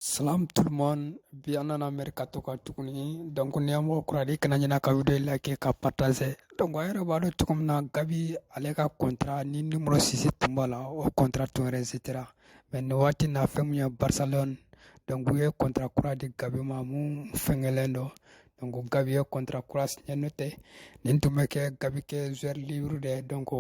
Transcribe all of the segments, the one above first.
Salam tout le monde, bi an nana mercato kan tuguni donc n'i y'an mɔgɔ kura di kana ɲina ka video in like ka partager donc a yɛrɛ b'a dɔn cogo min na Gavi ale ka contrat ni numéro 6 tun b'a la o contrat tun resitera mais nin waati na fɛn min ye Barcelone donc u ye contrat kura di Gavi ma mun fɛngɛlen don donc Gavi ye contrat kura signé n'o tɛ nin tun bɛ kɛ Gavi kɛ joueur libre de ye donc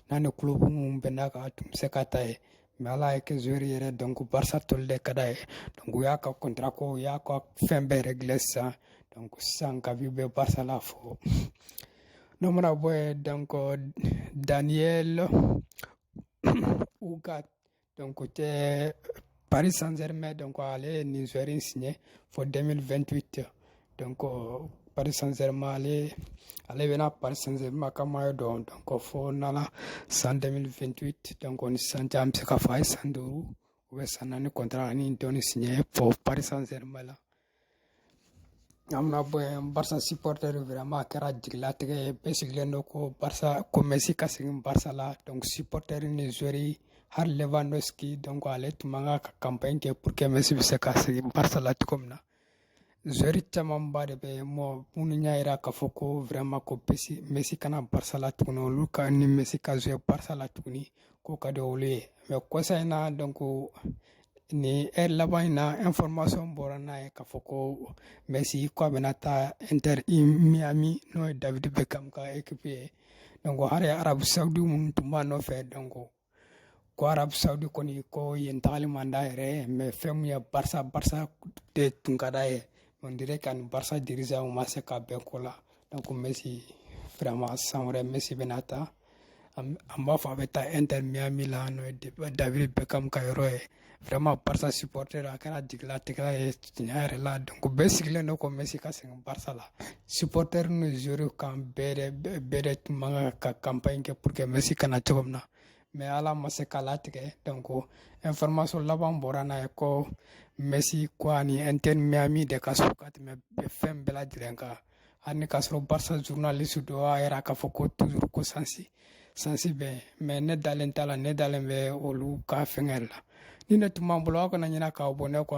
n'a ni club mun bɛnna kan a tun bɛ se ka taa yen mais ala y'a kɛ joueur yɛrɛ donc barça toli de ka d'a ye donc u y'a ka contrat ko u y'a ka fɛn bɛɛ régler sisan donc sisan gavi bɛ barça la fo n'o mana bɔ yen donc daniel ugarte donc tɛ paris saint germain donc ale ye nin joueur in signé fo 2028 donc paris saint germain ale ale bɛna paris saint germain ka maillot don donc fo nana san 2028 donc ni sisan cɛ an bɛ se ka fɔ a ye san duuru ou bien san naani contrat ani dɔɔni signé pour paris saint germain la an mana bɔ yen barça supporter vraiment a kɛra jigilatigɛ ye bɛɛ sigilen don ko barça ko messi ka segin barça la donc supporter ni joueurs hali lewandowski donc ale tun man ka campagne kɛ pour que messi bɛ se ka segin barça la cogo min na Joueur camanba de bɛ mɔgɔ minnu y'a jira k'a fɔ ko vraiment ko Messi ka na Barça la tuguni olu ka ni Messi ka jouer Barça la tuguni k'o ka di olu ye mais kɔsa in na donc nin heure laban in na information bɔra n'a ye k'a fɔ ko Messi k'a bɛna taa Inter Miami n'o ye David Beckham ka équipe ye donc hali Arabu Saudi minnu tun b'a nɔfɛ donc ko arabu saudi kɔni ko yen tagali man d'a yɛrɛ ye mais fɛn min ye barça barça de tun ka d'a ye on dirait que a ni barça dirigeants ma se ka bɛn ko la donc messi vraiment san wɛrɛ messi bɛna taa an b'a fɔ a bɛ taa inter miami la n'o ye david beckham ka yɔrɔ ye vraiment barça supporter a kɛra jigilatigɛ ye tiɲɛ yɛrɛ la donc bɛɛ sigilen don ko messi ka segin barça la supporter n'u joueurs kan bɛɛ de bɛɛ de tun man kan ka campagne kɛ pour que messi ka na cogo min na mais ala ma se k'a latigɛ donc information laban bɔra n'a ye ko messi ko a ni inter miami de ka surun ka tɛmɛ fɛn bɛɛ lajɛlen kan hali ni k'a sɔrɔ barça journaliste dɔ y'a yira k'a fɔ ko toujours ko chance chance bɛ mais ne dalen t'a la ne dalen bɛ olu ka fɛngɛ la nin de tun b'an bolo aw kana ɲinɛ k'aw abonner kɔ